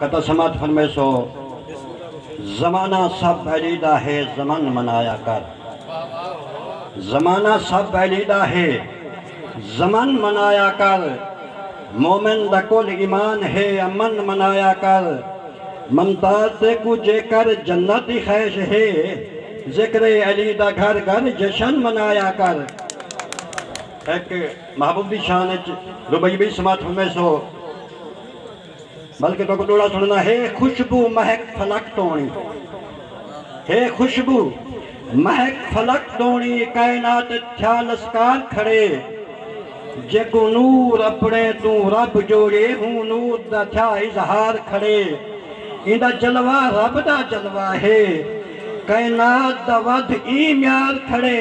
کتا سماعت فرمیسو زمانہ سب بیلی دا ہے زمن منایا کر زمانہ سب بیلی دا ہے زمن منایا کر مومن دا کل ایمان ہے امن منایا کر ممتاز تیکو جے کر جنت دی خیش ہے ذکر علی دا گھر گھر جشن منایا کر ایک محبوب دی شان اچ ربیبی سماعت فرمیسو۔ بلکہ تہاکوں ݙوہڑا سݨانا ہے خوشبو مہک فلک توݨی ہے خوشبو مہک فلک توݨی کائنات اچ تھیا لسکار کھڑے جیکوں نور اپݨے توں رب جوڑیے ہوں نور دا تھیا اظہار کھڑے ایندا جلوہ رب دا جلوہ ہے کائنات دا ودھ ایں میار کھڑے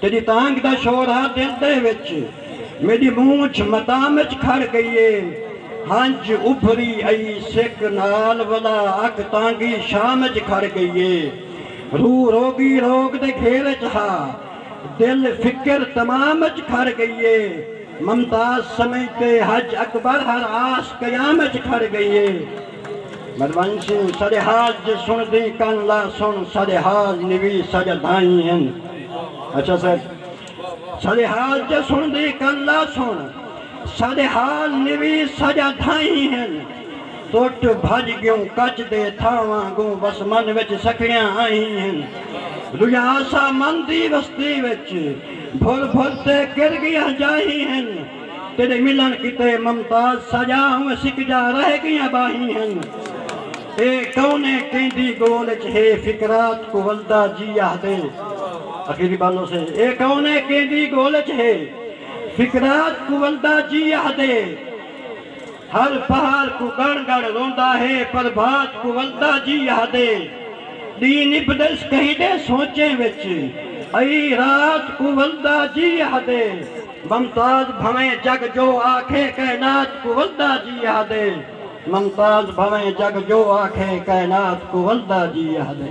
تیݙی تانگھ دا شور ہا دل دے وچ میݙی مونجھ مدام وچ کھڑ ڳئی اے ہنج ابھری ائی سک نال ولا اکھ تانگھی شام وچ کھڑ ڳئی اے روح روڳی روڳ دے گھیر وچ ہا دل فکر تمام وچ کھڑ ڳئی اے ممتاز سمجھ تے ہج اکبر ہر آس قیام وچ کھڑ ڳئی اے۔ مروان سنگھ ساڈے حال جے سن دیں کن لا سن ساڈے حال نویس ساڈا دھائیں ہن اچھا صاحب ساڈے حال جے سن دیں کن لا سن ساڈے حال نویس ساڈا دھائیں ہن توٹ بھج گیوں کچ دے تھاواں گوں بس من وچ سکھڑیاں آئیں ہن رویا سا من دی وستی وچ بھل بھل تے گر گیاں جائیں ہن تیݙے ملݨ کیتے ممتاز ساڄا ہوویں سک جا رہ ڳیاں ٻاہیں ہن اے کونے کیندی ڳول اچ ہے فکرات کوں ولدا جی آہدے اخیری بالو سے اے کونے کیندی ڳول اچ ہے فکرات کوں ولدا جی آہدے ہر پہاڑ کوں ڳڑ ڳڑ روندا ہے پربھات کوں ولدا جی آہدے ݙینہہ نبھدس کہیں دے سوچیں وچ ائی رات کوں ولدا جی آہدے۔ ممتاز بھنویں جگ جو آکھے کائنات کوں ولدا جی آہدے ممتاز بھنویں جگ جو آکھے کائنات کوں ولدا جی آہدے۔